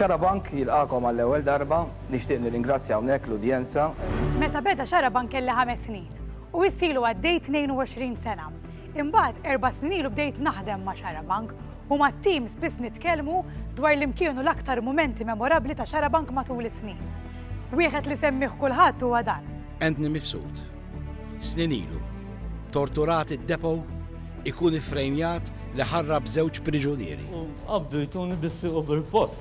Xarabank jilqagħkom għall-ewwel darba, nixtieq nirringrazzja hawnhekk l-udjenza. Meta beda Xarabank kelli ħames snin u issa ilu għaddej 22 sena. Imbagħad erba' snin ilu bdejt naħdem ma' Xarabank u mat-tim spiss nitkellmu dwar li mkienu l-aktar mumenti memorabbli ta' Xarabank matul is-snin. Wieħed li semmih kulħadd huwa dan. Anthony Mifsud. Snin ilu, torturat id-depot, ikun iffrejmjat li ħarrab żewġ priġunieri. U qabdu jtuni bis-sieq u bil-bott.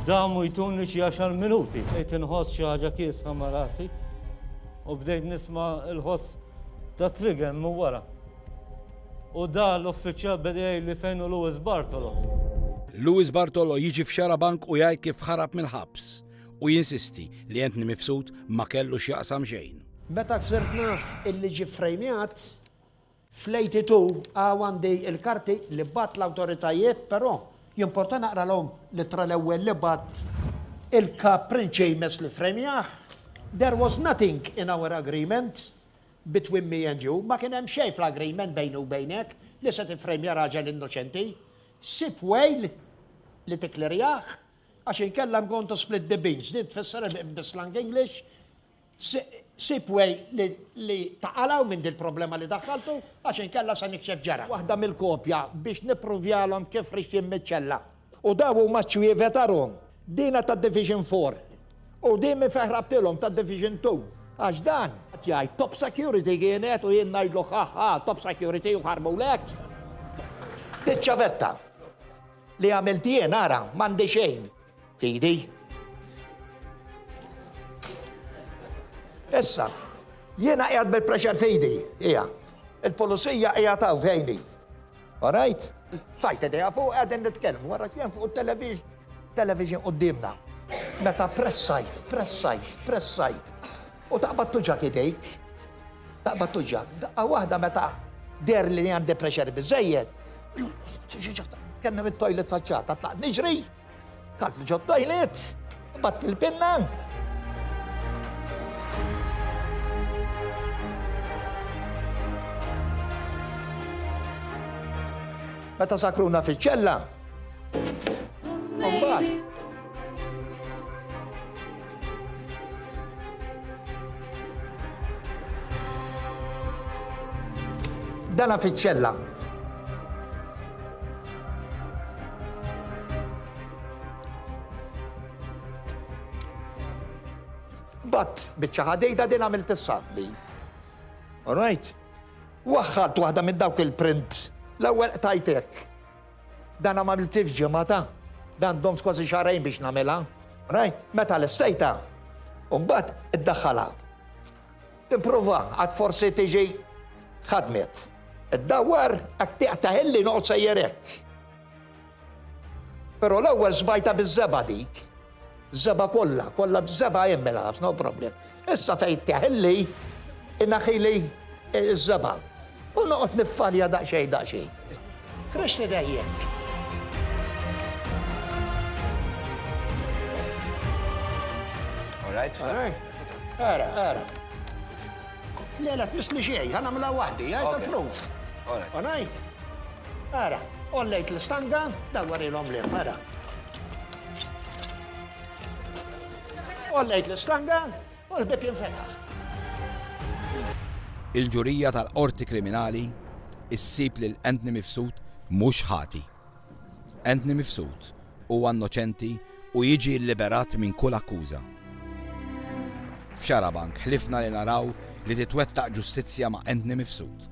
Damu jtuni xi għaxar minuti. Bdejt inħoss xi ħaġa kiesħa ma' rasi u bdejt nisma' l-ħoss tat-trigger minn wara. U dar l-uffiċjal beda jgħidli fejn hu Louis Bartolo. Louis Bartolo jiġi f'Xarabank u jgħid kif ħarab mill-ħabs u jinsisti li Anthony Mifsud ma kellu x'jaqsam xejn. Meta sirt naf illi ġie ffrejmjat, fl-82 hawn għandi l-karti li bagħat l-awtoritajiet però jimporta naqralhom l-ittra l-ewwel li bagħat il-Kap Prince Seamus li ffrejmjah, There was nothing in our agreement. between me and you, ma kien hemm xejn fl-agreement bejni u bejnek li se tiffrejmja raġel innoċenti. Sib way li tikklerjah għax inkella I'm going to split the beans. Din tfisser bis-slang English sib way li taqalaw minn din problema li daħħaltu għax inkella se nikxef ġara. Waħda mill-kopja biex nippruvjalhom kif rixxin miċ-ċella. U daw huma ċ-ċwievet għarhom. Dina ta' Division Four. U din min fejn ħrabtilhom ta' Division Two. Għax dan, qed jgħid Top Security kienet u jien ngħidlu ħa ħa Top Security u ħarbulek. Diċ-ċavetta li għamilt jien ara m'għandi xejn fidi. Issa, jiena qiegħed bil-pressure fidi, hija. Il-pulizija qiegħed hawn fejni. All right. Sajt idea fuq qegħdin nitkellmu wara x'hemm fuq it-television, television quddiemna. Meta pressajt, pressajt, pressajt. U taqbad tuġak idejk. Taqbad tuġak. Daqqa waħda meta der li għandi pressure biżejjed. Kemmi mit-toilet faċċata, tlaqt niġri. Talt li ġod toilet, bat il-pinna. Meta sakruna fiċ-ċella. Umbat, Dana fiċ-ċella. Bat biċċa ħadejda din għamilt is-sabli. All right? Waħħalt waħda minn dawk il-print l-ewwel qtajtek. Dana ma għamiltih f'ġimgħa ta'. Dan domt kważi xahrejn biex nagħmilha. Rajt? Meta lestejtha, u mbagħad iddaħħalha. Tipprova għad forsi tiġi ħadmet. Iddawwar għad tiqta' ħilli noqgħod sejjer hekk. Però l-ewwel sbajta biż-żebgħa dik. Żebgħa kollha, kollha b'żebgħa hemm mela ħafna no problem. Issa fejn teħilli, inaħili ż-żebgħa. U noqgħod niffarja daqsxejn daqsxejn. Fresh li dejjed. All right, all right. Ara, ara. Le, la tmisni xej, ħana mla wahdi, għaj ta' proof. Alright. Ara, ollejt l-stanga, dawwar il-om li, ara. Ollejt l-islanga u l-bib jinfetaħ. Il-ġurija tal-Qorti Kriminali issib lil Anthony Mifsud mhux ħati. Anthony Mifsud huwa innoċenti u jiġi lliberat minn kull akkuża. F'Xarabank ħlifna li naraw li titwettaq ġustizzja ma' Anthony Mifsud.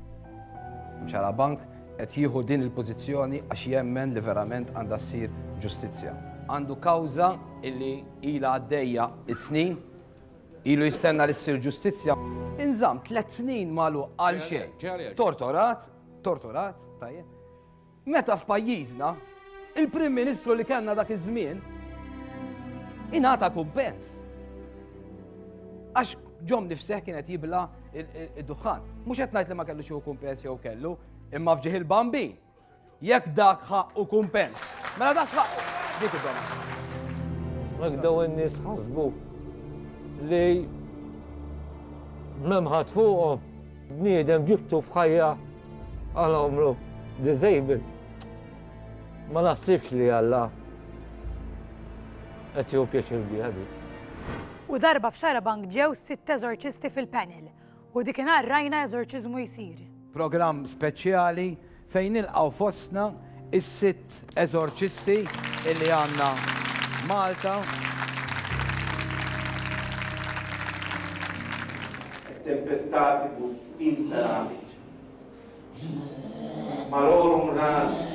F'Xarabank Qed jieħu din il-pożizzjoni għax jemmen li verament għandha ssir ġustizzja. Għandu kawża li ilha għaddejja s-snin, ilu jistenna li ssir ġustizzja. Inżamm tliet snin magħluq għal xejn. Tortorat, tortorat, tajjeb. Meta f'pajjiżna il-Prim Ministru li kellna dak iż-żmien ingħata kumpens. Għax Ġom nifseħ kien qed jibla id-duħħan. Mhux qed ngħid li ma kellux hu kumpens jew kellu, imma fġieħ il-bambi. Jekk dak ħaq u kumpens. Mela dak ħaq. Dik id-dom. Mek daw in-nies ħasbu li memħat fuqhom bniedem ġibtu f'ħajja għal għomru disabled. Ma naħsibx li Alla qed jew pjaċir biha dik. U darba f'Xarabank ġew sitt eżorċisti fil-panel u dikinhar rajna eżorċiżmu jsir. Programm speċjali fejn nilqgħu fostna is-sitt eżorċisti illi għandna Malta. Tempestativus imperavit. Malorum ranis.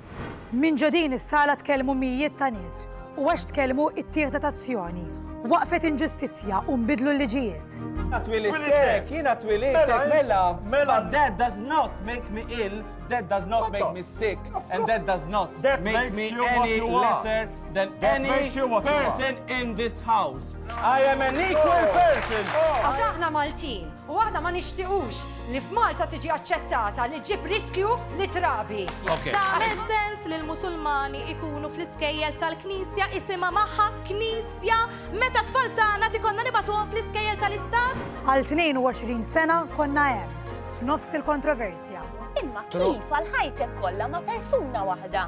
Minn ġo din is-sala tkellmu mijiet ta' nies u għax tkellmu ittieħdet azzjoni, waqfet inġustizzja u nbidlu l-liġijiet. Jiena twilidtek, jiena twilidtek, mela, but that does not make me ill, that does not make me sick, and that does not make me any lesser than any person in this house. I am an equal person. Għax aħna Maltin u aħna ma nixtiqux Li f'Malta tiġi aċċettata li ġġib riskju li trabi. Tagħmel sens li l-Musulmani ikunu fl-iskejjel tal-Knisja isimha magħha Knisja meta tfal tagħna tikonna nibatuhom fl-iskejjel tal-Istat? Għal 22 sena konna hemm, f'nofs il-kontroversja. Imma kif għal ħajtek kollha ma' persuna waħda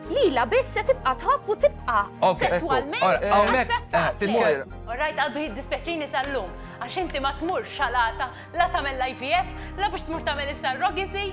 lila biss se tibqa' tħobb u tibqa' sesswalment attrattati. Orrajt għaddu jiddispjaċini sal-lum għax inti ma tmur xalata La tagħmel l-IVF, la biex tmur tagħmel is-surrogacy,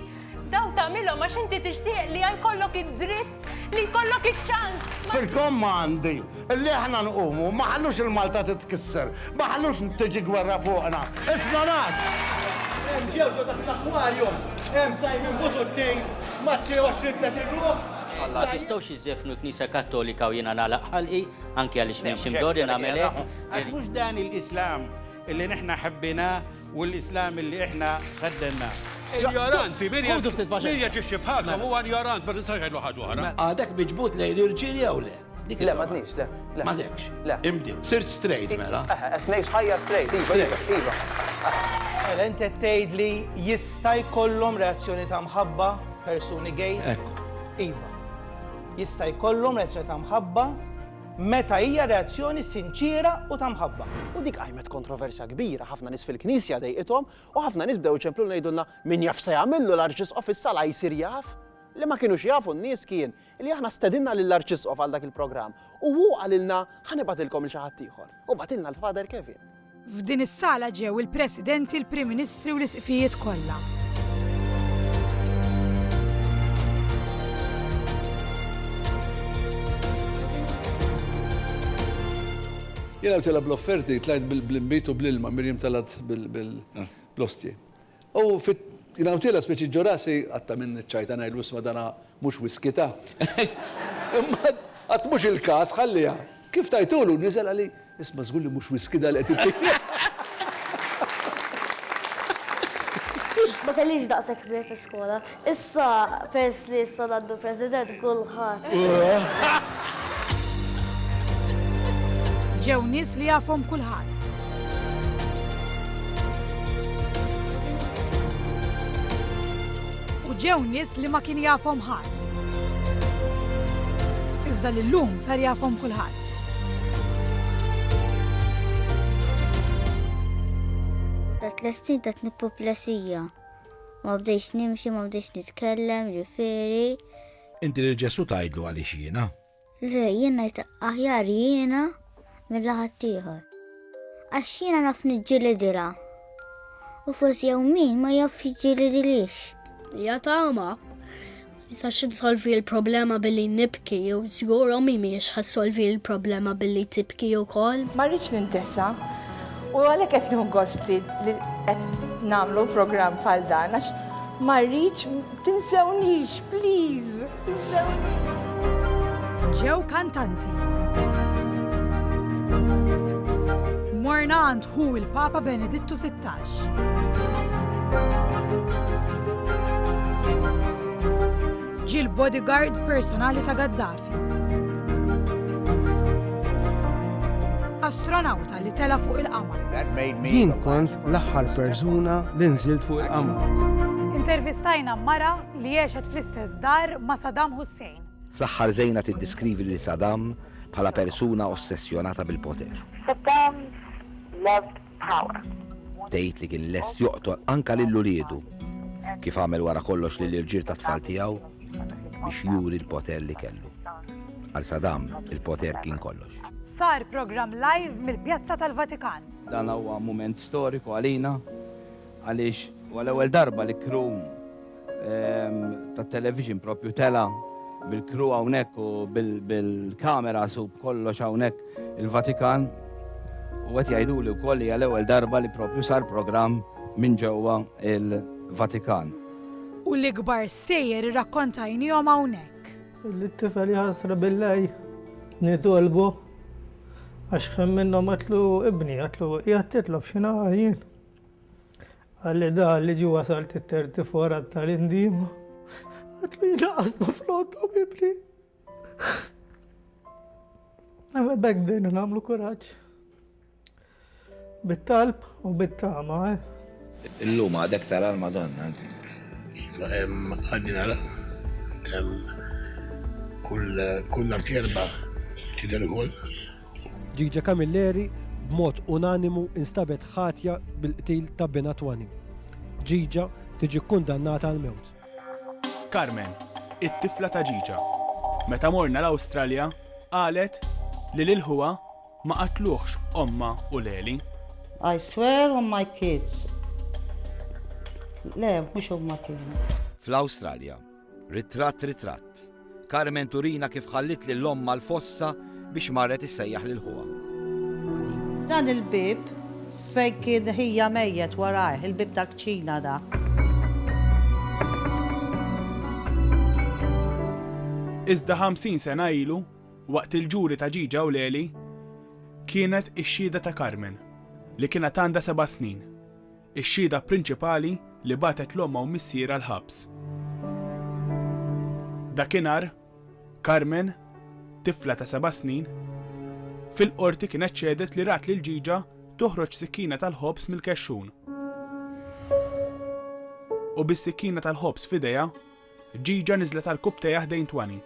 daw tagħmilhom għax inti tixtieq li jkollok id-dritt li jkollok iċ-ċans. Fil-kommandi li aħna nqumu ma ħallux il-Malta titkisser, ma ħallux tiġi gwerra fuqna. Espionaġġ! Hemm ġew ġo taħt l-aquarium, hemm Simon Busuttil ma' xi 20-30 ruħ. Ma tistgħux iżżefnu l-Knisja Kattolika u jiena nagħlaq ħalqi, anki għaliex m'iniex imdorri nagħmel hekk. Għax mhux dan il-Islam. Illi nihna ħebbinah u l-Islam illi ihna ħeddennah. Injoranti, min jaġixxi bħalkom huwa injorant, ma tistax tgħidlu ħaġa oħra. Għadek miġbud lejn l-irġiel jew le? Le, m'għadnix, le. M'għadekx. Le. Imbdilt. Sirt straight mela. Eħe, qed ngħix ħajja straight. Iva, iva, iva. Mela int qed tgħidli jista' jkollhom reazzjoni ta' mħabba persuni gays? Iva. Jista' jkollhom reazzjoni ta' mħabba meta hija reazzjoni sinċiera u ta' mħabba. U dik qajmet kontroversja kbira, ħafna nies fil-Knisja dejqithom, u ħafna nies bdew iċemplu u ngħidulna, min jaf se jagħmillu l-Arċisqof issa la jsir jaf? Li ma kinux jafu n-nies kien, li aħna stedinna lill-Arċisqof għal dak il-programm, u hu qalilna, ħa nibgħatilkom 'l xi ħaddieħor, u bagħtilna 'l Father Kevin. F'din is-sala ġew il-Presidenti, il-Prim Ministri u l-Isqfijiet kollha. Jiena għamtilha bl-offerti, tlajt bl-inbit u bl-ilma, Mirjam telgħet bl-ostji. U fi Knautila speċi Ġurassi, qatt ta' min iċċajta ngħidlu isma' dana mhux whisky ta'. Imma qatt mhux il-każ, ħalliha. Kif tajtulu, niżel għali, isma' żgur li mhux whisky da li qed ittini. Ma kellix daqshekk kbir fi skola. Issa perss li issa għandu president kulħadd. Ġew nies li jafhom kulħadd. U ġew nies li ma kien jafhom ħadd. Iżda li llum sar jafhom kulħadd. Dat l-estin dat nippoplesija. Ma bdejtx nimxi, ma bdejtx nitkellem, ġifieri. Inti lil Ġesù tgħidlu għaliex jiena? Le, jien ngħid aħjar jiena mill ħaddieħor. Għax jiena naf niġġilidilha. U forsi jew min ma jafx jiġġilidilix. Hija tama. Sax insolvi l-problema billi nibki u żgur ommi mhijiex ħassolvi l-problema billi tibki wkoll. Ma rridx nintesa u għalhekk qed nieħu gost li qed nagħmlu programm bħal dan għax ma rridx tinsewnix, please, tinsewnix. Ġew kantanti. Morna għand ħu il-Papa Benedittu 16. Ġie l-bodyguard personali ta' Gaddafi. Astronawta li tela' fuq il-qamar. Jien kont l-aħħar persuna li nżilt fuq il-qamar. Intervistajna mara li għexet fl-istess dar ma' Saddam Hussein. Fl-aħħar Zeina tiddeskrivi lil Saddam bħala persuna ossessjonata bil-poter. Saddam loved power. Tgħid li kien lest joqtol anke lil uliedu, kif għamel wara kollox lill-irġiel tat-tfal tiegħu, biex juri l-poter li kellu. Għal Saddam, il-poter kien kollox. Sar programm live mill-Pjazza tal-Vatikan. Dan huwa mument storiku għalina. Għaliex huwa l-ewwel darba li crew tat-television proprju tela' bil-crew hawnhekk u bil-cameras u b'kollox hawnhekk il-Vatikan. U qed jgħiduli wkoll li hija l-ewwel darba li proprju sar programm minn ġewwa il-Vatikan. U l-ikbar stejjer irrakkontajniehom hawnhekk. Lit-tifel jħassru bil-lej nitolbu għax ħin minnhom qatlu ibni, qatlu qiegħed titlob xi ngħaqal jien? Għal-età li ġie wasal tit-tertifor għat-tagħlim-dieqma, għad li jnaqqas l-offront ta' mibni. Imma b'hekk bdejna nagħmlu kuraġġ. Bit-talb u bit-tama, eh? Illum għadek tara l-Madonna. Għaddi nara. Kull artjerba tidher ukoll. Gigi Camilleri b'mod unanimu instabet ħatja bil-qtil ta' binha Twani. Gigi tiġi kkundannata għall-mewt. Carmen, it-tifla ta' Gigi, meta morna l-Awstralja qalet li lil ħuha ma qatluhx ommha u Leli. I swear on my kids. Le, mhux huma kienu. Fl-Awstralja, Ritratt Ritratt, Carmen turina kif ħalliet lil ommha l-fossa biex marret issejjaħ lil ħuha. Dan il-bieb fejn kien ħija mejjet warajh, il-bieb tal-kċina da. Iżda 50 sena ilu, waqt il-ġuri ta' ġiġa u leli, kienet ix-xhieda ta' Carmen, li kienet għandha seba' snin. Ix-xhieda prinċipali li bagħtet 'l ommha u missierha l-ħabs. Dakinhar, Carmen, tifla ta' seba' snin, fil-Qorti kienet xehdet li rat lil ġiġa toħroġ sikkina tal-ħobż mill-kexxun u bis-sikkina tal-ħobż f'idejha, Ġiġa niżlet għall-kupp tejha ħdejn Twani.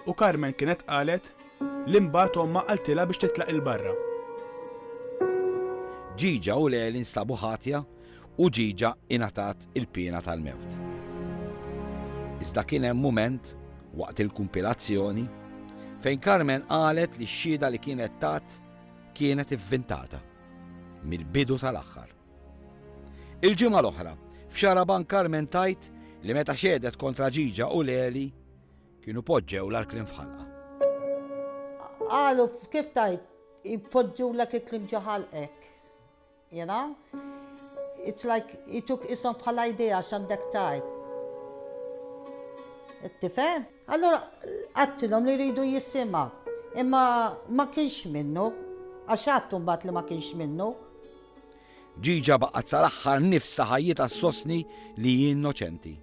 U Carmen kienet qalet li mbagħad ommha qaltilha biex titlaq 'il barra. Ġiġa u Leli nstabu ħatja u Ġiġa ingħatat il-piena tal-mewt. Iżda kien hemm mument waqt il-kumpilazzjoni fejn Carmen qalet li x-xhieda li kienet tat kienet ivvintata mill-bidu sal-aħħar. Il-ġimgħa l-oħra, f'Xaraban Carmen tajt li meta xedet kontra Ġiġa u Leli kienu poġġew l-arklin f'ħalqa. Qalu kif tajt, poġġu l-arklin ġo ħalqek. You know? It's like jituk isom bħala idea x'għandek tgħid. Tifhem? Allura għattilhom li jridu jisima. Imma ma kienx minnu, għax għattu mbagħad li ma kienx minnu. Ġiġa baqgħet sal-aħħar nifs ta' ħajjitha sostni li hi innoċenti.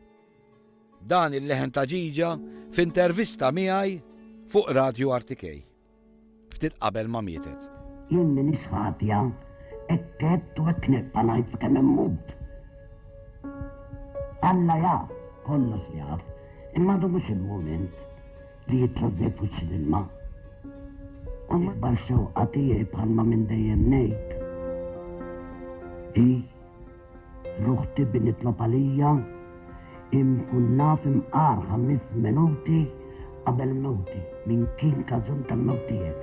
Dan il-leħen ta' ġiġa f'intervista miegħi fuq Radio Artikej. ftit qabel ma mietet. Jien m'iniex ħatja, hekk għedt u hekk nibqa' ngħid sakemm immut. Alla jaf, kollox jaf, imma għadu mhux il-mument li jitrażżej f'wiċċ l-ilma. U l-ikbar xewqa tiegħi bħalma minn dejjem ngħid hi L uħti bi nitlob għalija hi nkun naf imqar ħamis menuti qabel mewti min kien kaġun ta mewt tiegħek.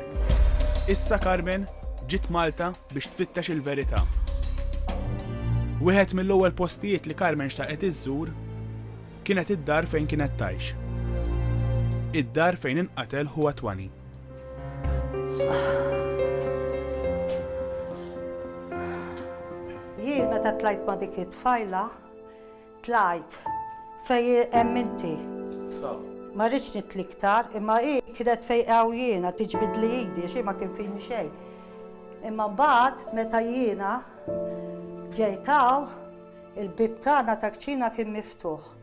Issa Carmen ġiet Malta biex tfittex il verita. Wieħed mill ewwel postijiet li Carmen xtaqet iżżur kienet id-dar fejn kienet tgħix. Id-dar fejn inqatel ħuha twani. Jien meta tlajt ma' dik it-tfajla, tlajt fej hemm inti. Ma rridx nitli iktar, imma hi kienet fej hawn jiena tiġbidli idi, xi ma kien fini xejn. Imma mbagħad meta jiena ġejt hawn, il-bib tagħna ta' kċina kien miftuħ.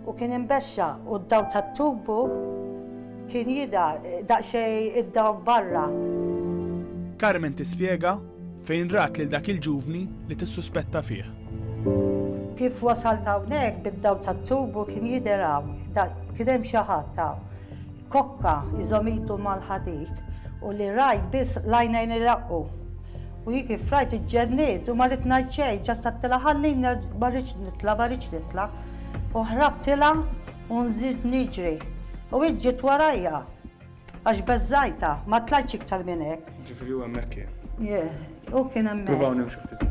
U kien imbexxa u d-dawl tat-tubu kien jidher daqsxejn id-dawl barra. Carmen tispjega fejn rat lil dak il-ġuvni li tissuspetta fih. Kif wasalt hawnhekk bid-dawl tat-tubu kien jidher hawn, kien hemm xi ħadd hawn. Kokka iżomm idu mal-ħadid u li rajt biss l-għajnejn iraqqu. U hi kif rajt iġġenniet u ma ridt ngħid xejn, ġast għedtilha ħalli ma rridx nitla' ma rridx nitla' u ħrabtilha u nżidt niġri u hi ġiet warajja għax beżżajtha, ma tlajtx iktar minn hekk. Ġifieri hu hemmhekk kien. Yeah, hu kien hemmhekk. Provaw nimxu ftit.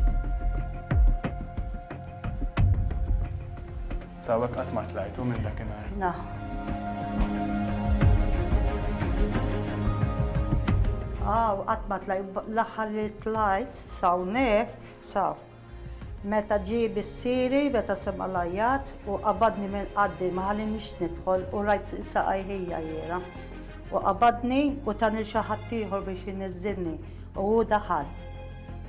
Sawek qatt ma tlajtu minn dakinhar. Na. Aw, qatt ma tlajt, l-aħħar li tlajt sawnek, saw. Meta ġie bissiri, meta sema lajjat u qabadni minn qaddi ma ħallinix nidħol u rajt saqaj ħija jiera. U qabadni u tani xi ħadd ieħor biex jniżżilni u hu daħal.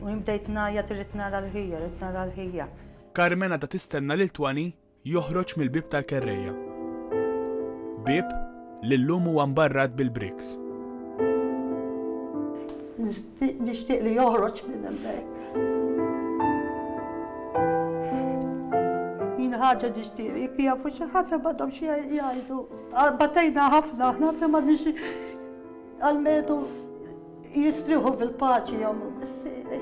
U jien bdejt ngħajjat irrid nara l-ħija, rrid nara l-ħija. Carmen għadha tistenna lil Twani joħroġ mill-bieb tal-kerrejja. Bieb li llum huwa mbarrat bil-bricks. Nixtieq li joħroġ minn hemmhekk. Jien ħaġa nixtieq jekk jafu xi ħadd ma dom xi jgħidu. Batejna ħafna aħna ħafna ma nix għal-medu jistriħu fil-paċi jom missieri.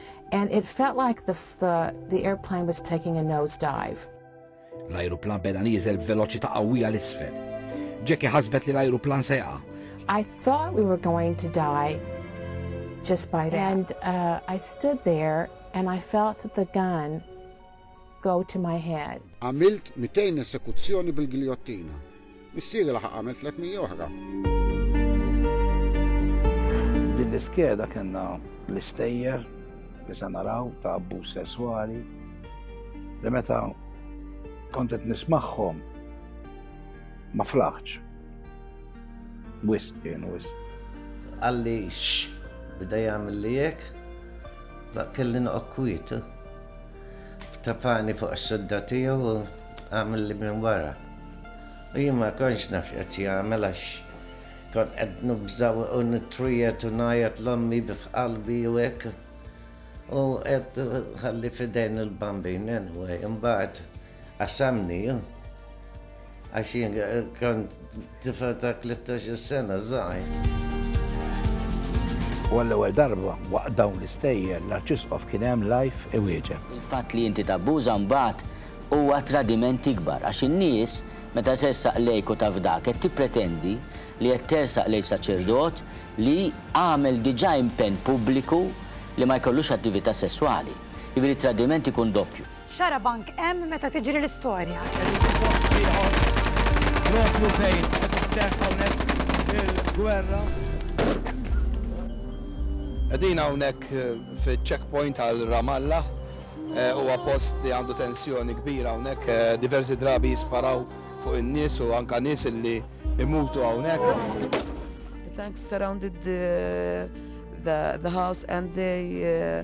and it felt like the, the, the airplane was taking a nose dive. L-ajruplan beda nieżel b'veloċità qawwija l-isfel. Jackie ħasbet li l-ajruplan se jaqa'. I thought we were going to die just by that. And uh, I stood there and I felt the gun go to my head. Għamilt 200 esekuzzjoni bil-giljottina. Missieri laħaq għamel 300 oħra. F'din l-iskeda kellna l-istejjer li se naraw ta' abbuż sesswali li meta kont qed nismagħhom ma flaħċ. Wisq kien wisq. Għalli x bida jagħmel li hekk, kelli noqgħod kwiet. Ftafani fuq is-sidda tiegħu u għamilli minn wara. U jien ma kontx naf x'qed jagħmel għax kont qed nibża' u nittwijet u ngħajjat l-ommi f'qalbi u hekk. U qed ħalli f'idejn il-bambin anyway, imbagħad Qasamni hu, għax jien kont tifel ta' 13 sena żgħir. U għall-ewwel darba waqt dawn l-istejjer l-Arċisqof kien hemm live iwieġeb. Il-fatt li inti tabbuża mbagħad huwa tradiment ikbar għax in-nies meta tersaq lejk u taf dak qed tippretendi li qed tersaq lejn saċerdot li għamel diġà impenn pubbliku li ma jkollux attività sesswali. Jiġifieri t-tradiment ikun doppju. Xarabank hemm meta tiġri l-istorja. Qegħdin fi post ieħor propju fejn qed isseħħ hawnhekk il-gwerra. Qegħdin hawnhekk fiċ-checkpoint għal Ramallah huwa post li għandu tensjoni kbira hawnhekk diversi drabi jisparaw fuq in-nies u anke nies li imutu hawnhekk. The tanks surrounded the, the, the house and they uh,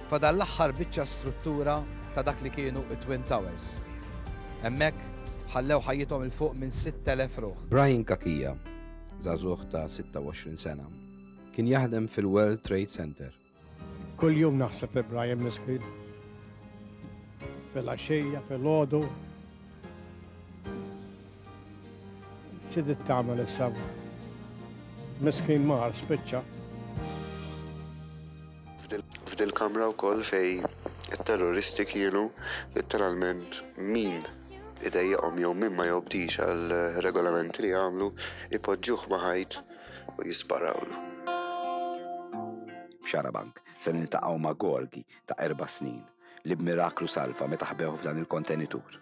Fadal l-aħħar biċċa struttura ta' dak li kienu t-Twin Towers. Hemmhekk ħallew ħajjithom 'il fuq minn 6,000 ruħ. Brian Cachia, żagħżugħ ta' 26 sena, kien jaħdem fil-World Trade Center. Kuljum naħseb li Brian miskin. Fil-għaxija, fil-ħodu. Sidit tagħmel issa. Miskin mar spiċċa. F'dil-kamra wkoll fejn it-terroristi kienu litteralment min idejjaqhom jew min ma jobdix għal regolamenti li jagħmlu jpoġġuh ma' ħajt u jisparawlu. F'Xarabank se niltaqgħu ma' Gorgi ta' erba' snin li b'miraklu salva meta ħbewh f'dan il-kontenitur.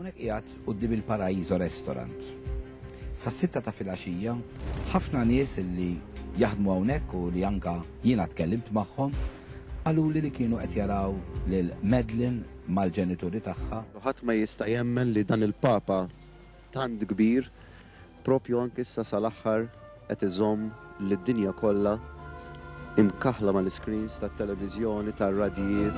Hawnhekk qiegħed quddiem il-Paraíso Restaurant. Sas-sitta ta' filgħaxija, ħafna nies li jaħdmu hawnhekk u li anke jiena tkellimt magħhom, qaluli li kienu qed jaraw lil Madeline mal-ġenituri tagħha. Ħadd ma jista' jemmen li dan il-Papa tant kbir, Proprju anke issa sal-aħħar qed iżomm lid-dinja kollha imkaħħla mal-iscreens tat-televiżjoni, tar-radjijiet.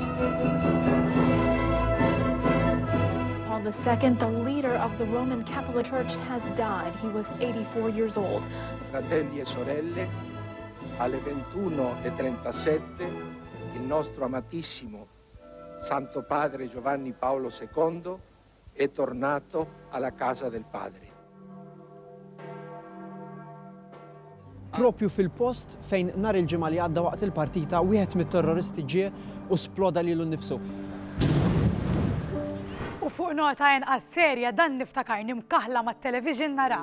Paul the Second, the leader of the Roman Catholic Church has died. He was 84 years old. Fratelli e sorelle, alle 21:37 il nostro amatissimo Santo Padre Giovanni Paolo II È tornato alla casa del padre. Proprju fil-post fejn nhar il-Ġimgħa li għadda waqt il-partita wieħed mit-terroristi ġie u sploda lilu nnifsu. U fuq nota inqas serja dan niftakarni mkaħħla mat-television nara.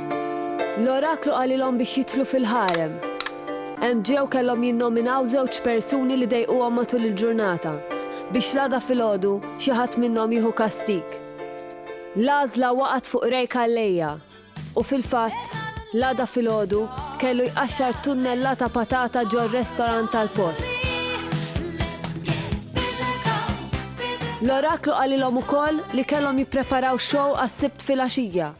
L-oraklu qalilhom biex jidħlu fil-ħarem. Hemm ġew kellhom jinnominaw żewġ persuni li dejquhom matul il-ġurnata, biex l-għada filgħodu xi ħadd minnhom jieħu kastig. L-għażla waqgħet fuq Ray Calleja u fil-fatt, l-għada filgħodu kellu jqaxxar tunnellata patata ġor-restorant tal-post. L-oraklu qalilhom ukoll li kellhom jippreparaw xow għas-Sibt filgħaxija.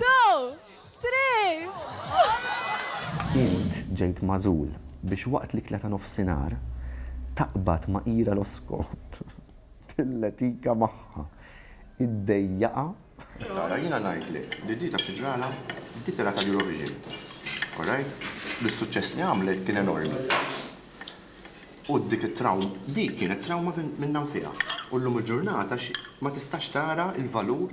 Two! Three! Int ġejt magħżul biex waqt l-ikla ta' nofsinhar taqbad ma' Ira Loskop, tilletika magħha, iddejjaqha, Tara, jiena ngħidlek li di taf xi ġralha? Di telgħet għall-Eurovision. All right? Bis-suċċess li għamlet kien enormi. U dik it-trawm, dik kienet trawma minnha nfiha. U llum il-ġurnata ma tistax tara l-valur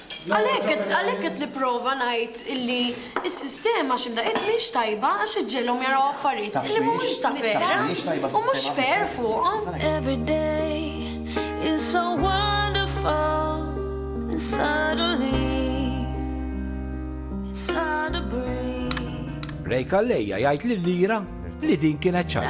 Għalhekk qed nipprova ngħid illi s-sistema xi mdaqqiet mhix tajba għax qed ġegħlhom jaraw affarijiet illi mhumiex ta' vera u mhux fair fuqhom. Ray Calleja jgħid lill-IRA li din kienet ċajta.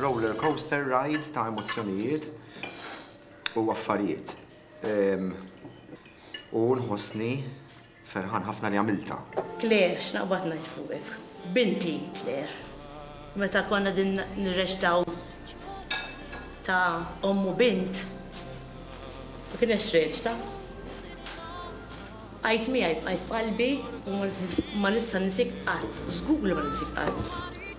Roller coaster ride ta' emozzjonijiet u affarijiet. U nħossni ferħan ħafna li għamiltha. Claire, x'naqbad ngħid fuqek. Binti, Claire. Meta konna din nirreċtaw ta' omm u bint, ma kinetx reċta. Bqajt miegħi, bqajt f'qalbi u ma nista' ninsik qatt, żgur li ma ninsik qatt.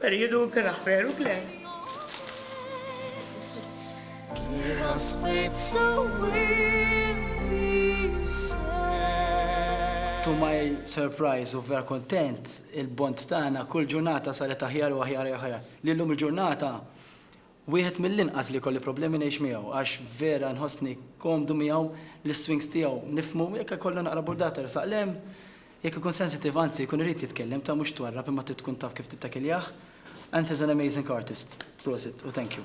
Periodu kena veru klem. To my surprise u vera kontent, il-bond tagħna kull ġurnata saret aħjar u aħjar aħjar. Li llum il-ġurnata Wieħed mill-inqas li jkolli problemi ngħix miegħu għax vera nħossni komdu miegħu, l-iswings tiegħu nifhmu, jekk ikollu naqra burdata jersaq 'l hemm, jekk ikun sensitive anzi jkun irid jitkellem ta' mhux twarrab imma trid tkun taf kif tittakiljah and he's an amazing artist. Prosit u thank you.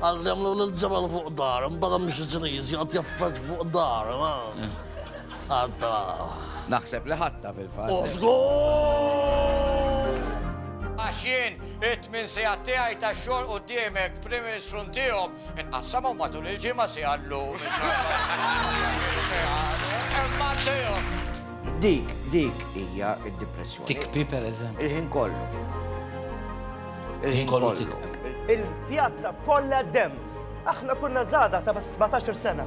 Għad jagħmlu lil ġebel fuq dar, imbagħad hemm xi Ċiniż jgħod jaffeġ fuq dar. Għadda. Naħseb li ħatta fil-fatt. U żgur! Għax jien it-tmin sigħat tiegħi ta' xogħol quddiemek Prim Ministru ntihom inqassamhom matul il-ġimgħa si għallu. Imma ntihom. Dik, dik hija d-depressjoni. Tikpi pereżempju. Il-ħin kollu. Il-ħin kollu tiegħu. Il-pjazza kollha dem. Aħna kunna żgħażagħ ta' 17 sena.